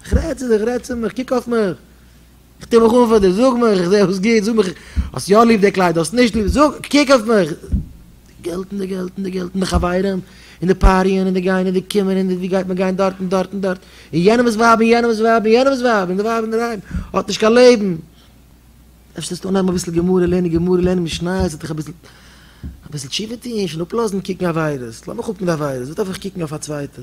כ'רעד צו דיך, רעד צו מיך, קוק אויף מיך. כ'טו מיך אן פאר דיר, זאג מיך, כ'זע אויס גוט, זאג מיך, האסט יא ליב די קליידער, האסט נישט ליב, זאג, קוק אויף מיך. די געלט און די געלט און די געלט און די חברים און די פאריען און די גיין און די קומען און די ווי גייט מען גיין דארט און דארט און דארט און יענעמ'ס ווייב און יענעמ'ס ווייב און יענעמ'ס ווייב און די ווייב אינדערהיים האט נישט קיין לעבן. אפשר זאלסטו אנהייבן אביסל גמרא לערנען, גמרא לערנען משניות וועט דיך אביסל אביסל תשובה טון, שוין אפלאזן קוקן עבירות, לאמיך אפ מיט עבירות, וואס דארף איך קוקן אויף א צווייטע.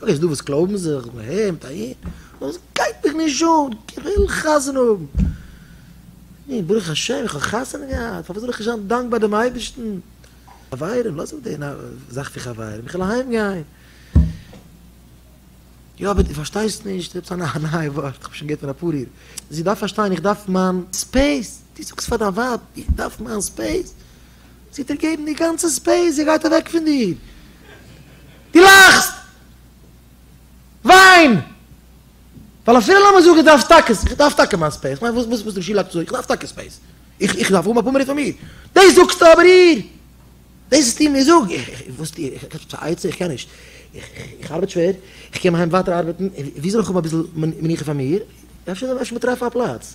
דא איז דא וואס קלויבן זיך ב ה מיט א איד, אבער עס גייט מיך נישט אן, כוויל חתונה האבן, נו ברוך השם איך האב חתונה געהאט, פארוואס זאל איך נישט זיין דאנקבאר דעם אייבערשטן, חברים לאז אפ די זאך פון חברים, איך וויל אהיים גיין, יא אבער דו פארשטייסט נישט, עפעס א נייע ווארט, איך האב שוין געהערט פון אפאר אידן, זי דארף פארשטיין איך דארף מיין ספעיס, דו זאגסט פאר דיין ווייב איך דארף מיין ספעיס, זי וועט דיר געבן די גאנצע ספעיס, זי גייט אוועק פון דיר. דו לאכסט! וויין! ווייל אפילו לאמיר זאגן איך דארף טאקע, איך דארף טאקע מיין ספעיס, כ'מיין וואס וואס דער שילאק האט געזאגט, איך דארף טאקע ספעיס, איך איך דארף האבן אפאר מינוט פאר מיר, דאס זאגסטו אבער איר, דאס וואס דו מיר זאג, איך איך וואס טו איך, כאטש א עצה, איך קען נישט, איך איך ארבעט שווער, איך קום אהיים ווייטער ארבעטן, ווי זאל איך האבן אביסל מנוחה פאר מיר, אפשר אפשר מ'טרעף א פלאץ.